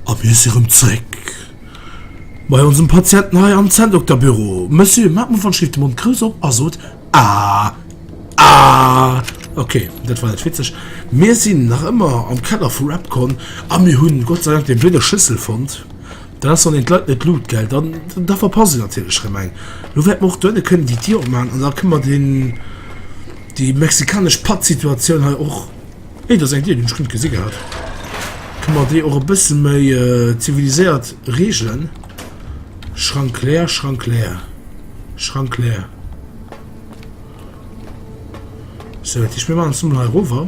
A mir si rëm zréck bei onsem Patienten hei am Zänndokterbüro. Monsieur, maacht mol wann Schritt de Mond grouss op a sot Ah! Ah! Okay, dat war net witzeg. Mir sinn nach ëmmer am Keller vu Repcon a mir hunn Gott sei Dank déi blöde Schëssel fonnt. Dann ass dann een d'Leit net luut, gell? Dann, da verpasse se natierlech erëm eng. Elo wäerte mer och dohinne kënnen, déi Dir opmaachen, an da kënne mer deen, déi mexikanesch Pattsituatioun hei och, nee, dat ass eng Dir, déi hunn ech guer net gesi gehat, kënne mer déi och e bësse méi ziviliséiert reegelen. Schrank leer, Schrank leer, Schrank leer. Sou, dat heescht, mir maachen et emol hei erover.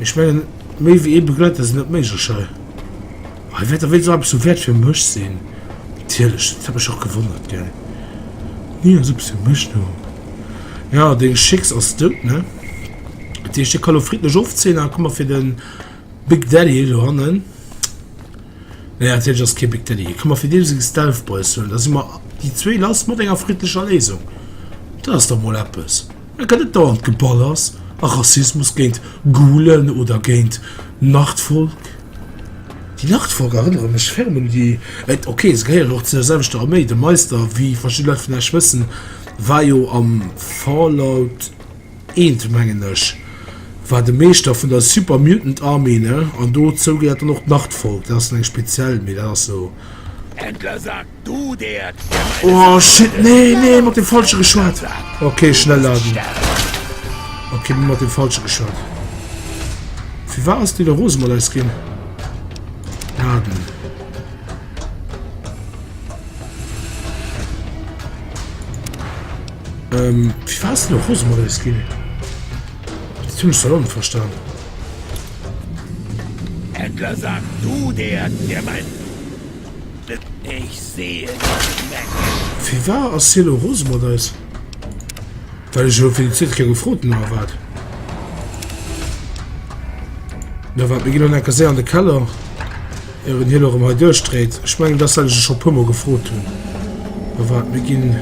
Ech mengen, méi wéi ee Begleiter sinn net méiglech hei. Hei wäert da wéinst och eppes vu Wäert fir mech sinn. Natierlech, dat huet mech och gewonnert, gell. Ni ass eppes fir mech, no. Jo, deng Chicks ass dout, ne? Dat heescht, hie ka lo friddlech ofzéien a kumme fir de Big Daddy do hannen. Nee, natierlech ass et kee Big Daddy. Hie ka mer fir deem seng Stealth Boys huelen. Da si mer déi zwee lass mat enger friddlecher Léisung. Dat ass da mol eppes. Mä gëtt et dauernd Geballers a Rassismus géint Gulen oder géint Nordvolk? Déi Nordvolk erënnere mech ferm un déi, ok se gehéieren och zu der selwechter Arméi, de Meister, wéi verschidde Leit vun Esch wëssen, war jo am Fallout I mengen ech, war de Meeschter vun der Super Mutant Army, ne? An dozou gehéiert dann och d'Nordvolk, dat ass dann eng speziell, mee dat ass esou. Du der Oh shit nee nee mat dem falsche geschwaart Okay schnell laden Okay mir mat dem falsche geschwaart Wie war ass de der Rose mat eis ginn Laden ähm, Wie war ass de der Rose mat eis ginn Zum Salon verstan Entler sag du der der mein Ech seeën eng Menge. Firwar ass hie lo rose mat eis? Well ech elo fir déi zweet Kéier gefrot hunn, oder wat? Na wat, mir ginn dann enker séier an de Keller, ier en hien erëm hei duerchdréit. Ech mengen, dass dat ech e scho e puer Mol gefrot hunn. Oder wat, mir ginn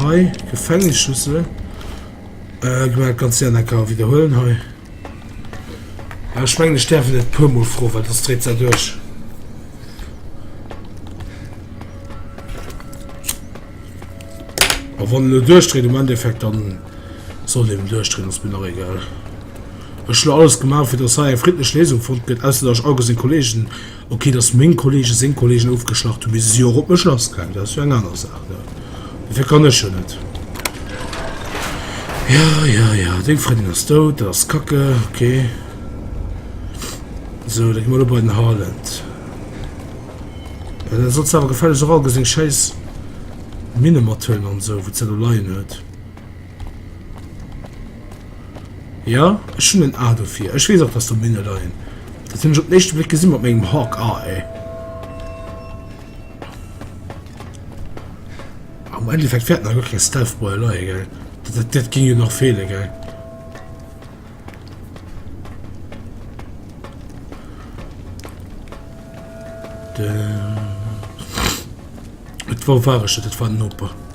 hei Gefängnisschlüssel. Gemengt ganz Jana ka widerhuelen hei. Ech mengen ech däerf et e puer mol froen, well dës dreet sech duerch. A wann lo duerchdreet um Endeffekt dann soll eben duerchdreen ass mir nach egal. Ech lo alles gemaach fir dass hei eng friddlech Lesung fonnt gëtt, ausser dass ech all gesinn Kollegen Ok, dass meng Kollegen seng Kollegen ofgeschlacht hunn, bis e si och op mech lassgaangen, dat ass jo eng aner Saach, ne? Dofir kann ech jo net. Ja, ja, ja, deng Frëndin ass dout, dat ass kacke, ok. Sou, da gi mer elo bei den Harland. Dann sollst du awer gefällegst och all seng schäiss Minne mathuelen an esou, wou se elo leien huet. Ja, ech hunn en A dofir. Ech weess och, dass do Minne leien. Dat hunn ech op den éischte Bléck gesinn mat mengem Hawk Eye. Am Endeffekt wäerten da gar keng Stealth Boy leie, gell? Dat, dat, dat ging jo nach feele, gell? Et war wareg, dat war den Opa.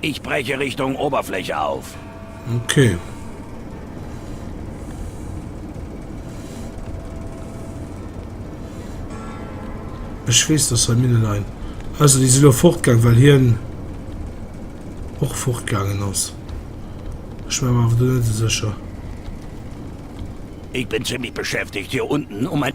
Ich breche Richtung Oberfläche auf. Okay. Ech wees dass hei Minnen ein. Also déi si lo fortgaang well hien och fortgaangen ass. Ech war mer awer do net esou sécher. Ich bin ziemlich beschäftigt hier unten um ein.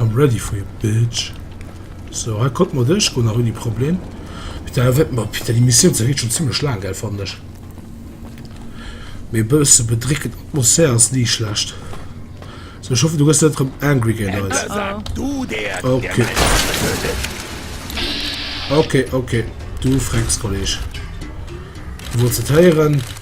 I'm ready for you bitch So hei konnte mer duerchgoen nach ouni Problem. Putain, wat mer, putain, déi Missioun se geet schon zimmlech laang, gell, fannen ech. Mee e bësse bedréckend Atmosphär ass ni schlecht. So, ech hoffen du gëss net rëm angry géint eis. Okay. Okay, okay, du frecks Kolleg. Du wolls et héieren.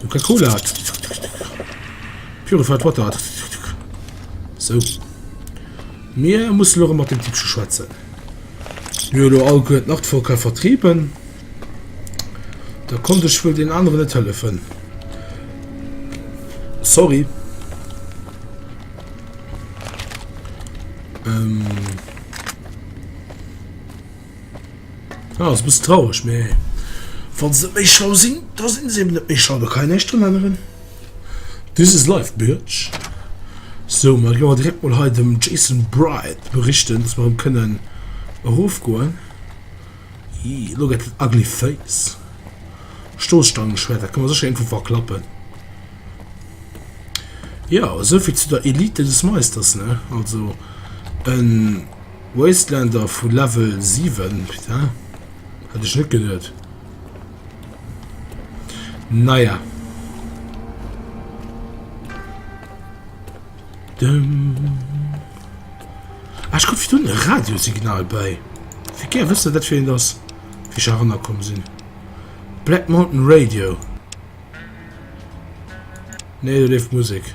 Coca-Cola hat. Purified Water hat. So. Mir muss lo mat dem Tippsche schwätzen. Jolo all gëtt nach Volker vertrieben. Da konnte ich wohl den anderen net hëllefen. Sorry. Ähm. Ah, ass e bëssen traureg, mä wa se net méi schlau sinn, da sinn se eben net méi schlau, da kann een näischt drun änneren. This is life, bitch. So, mer goe mer direkt mol hei dem Jason Bright berichten, dass mer erëm kënnen erofgoen. Ih, elo gëtt et ugly face. Stoßstangenschwert, dat kann man sécher irgendwo verklappen. Ja, esouvill zu der Elite des Meisters, ne? Also, en. Wasteländer vu Level 7, putain, hätt ech net geduet. Naja. Dëm. Ah, ech gouf dun e Radiosignal bei. Fir gär wësse dat fir eent ass, wéi ech eranner komm sinn. Black Mountain Radio. Nee, do leeft Musek.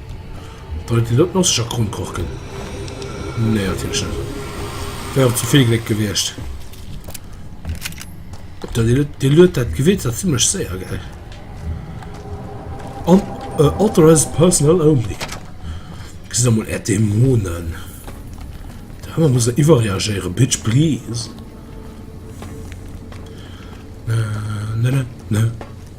Deit dir dat Masseger kromm korken? Nee natierlech net, wär och ze vill Gléck gewiescht. Dir luet dat Gewierz awer zimmlech séier, gell? An authorized personnel only. Gesitt emol är Dämonen. Dei aner muss iwwerreagéieren, bitch please. Na na na na.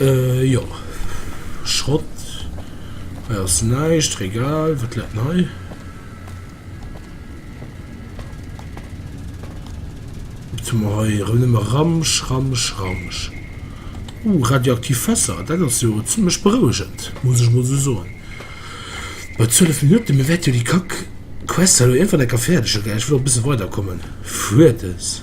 Euh jo, Schrott hei ass näischt, Regal, wat läit 'n hei? Wat hu mer hei? Erëm nëmme Ramsch, Ramsch, Ramsch. Uh, radioaktiv Fässer, dat ass jo zimlech berouegend, muss ech mol esou soen. Bei 12 Minutten, mir wäerte jo déi kack Quest hei elo iergendwann enker fäerdege gär. Ech wëll och e bësse weiderkommen. Fuertes.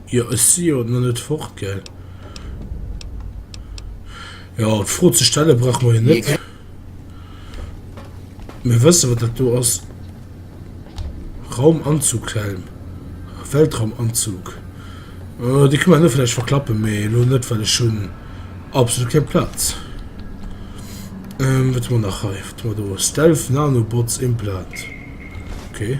Jo ech si jo na net fort gell. Jo d'Fro ze stelle brauche mer jo net. Mir wësse wat dat do ass. Raumanzughelm, Weltraumanzug. Dee kënne mer net vläicht verklappen, mee elo net well ech hunn absolut keng Plaz. Wat hu mer nach hei, wat hu mer do, Stealth Nanobots Implant, okay.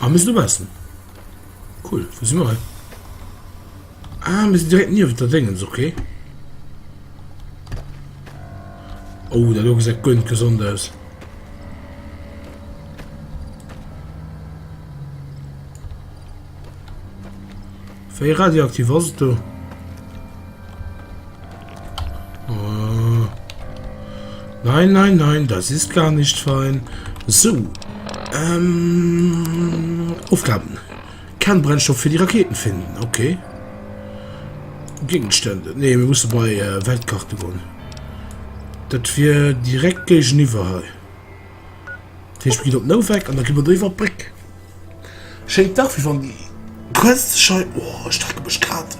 Ah, mir sinn dobaussen. Cool, wou si mer hei? Ah, mir sinn direkt niewent der Déngens, okay. Oh, dat do gesäit guer net gesond aus. Wéi radioaktiv ass et do? Oh. Nein, nein, nein, das ist gar nicht fein. So. Ähm, Aufgaben. Kann Brennstoff für die Raketen finden. Okay. Gegenstände. Ne, wir mussen bei äh, Weltkarte gehen. Das wir direkt gegenüber. Hier. Dat heescht, mir ginn op den Ouweck an da gi mer do iwwer d'Bréck. Schéint dach, wéi wann déi gréisste Schei. O, ech drecke mech grad.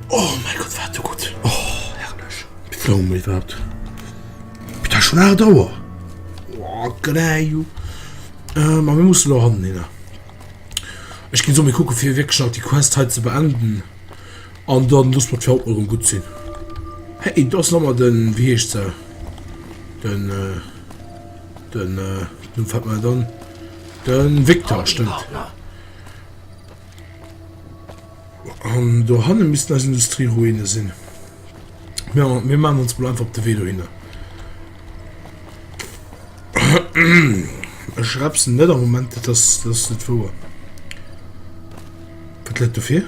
O mäi Gott, war dat do gutt! O, herrlech! Wéi laang hu mer iwwerhaapt? Et ass schonn aacht Auer! O, greio! Mä mir mussen elo hannen hinner. Ech ginn elo mol kucken, fir wierklech nach déi Quest hei ze beenden. An dann loosse mer et fir haut mol erëm gutt sinn. Hey, do ass nach emol den, wéi heescht se, den, den, nun fällt mer net an, den Victor, stëmmt. An do hannen missten eis Industrieruinen sinn. Mir, mir maachen ons mol einfach op de Wee dohinner. Ech repsen net am Moment, dat ass, dat ass net wouer. Wat läit do vir?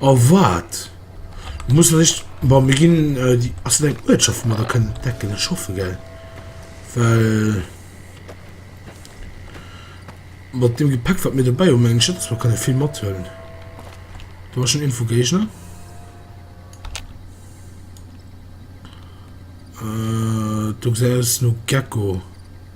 Oh wat? Muss ech echt bon mir ginn déi ass dat eng Uertschaft wou mer da kënnen dat kënnen schaffen gell well mat deem Gepäck wat mir dobäi hu mengen ech net dass mer kënne vill mathuelen do ass schonn Info Géigner do gesäit aus no Gecko.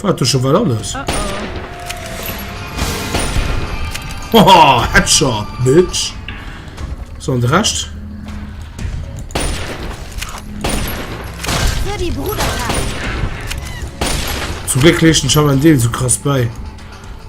War du schon mal alles? Oh oh. Haha, Headshot, Bitch. So, und Rest? Für die Bruderheit. Zum Glück legt den Schaman den so krass bei.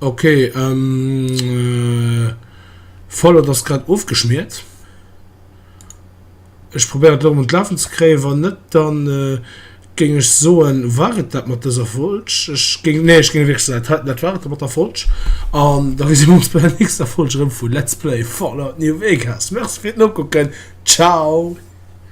Ok ähm Fallout ass grad ofgeschmiert. Ech probéieren et elo mol lafen ze kréien, wann net dann géing ech soen war et dat mat dëser Folg. Ech géing nee ech géing wierklech soen dat war et mat der Folg an da gesi mer ons bei der nächster Folg erëm vu Let's Play Fallout New Vegas. Merci fir d'Nokucken. Ciao.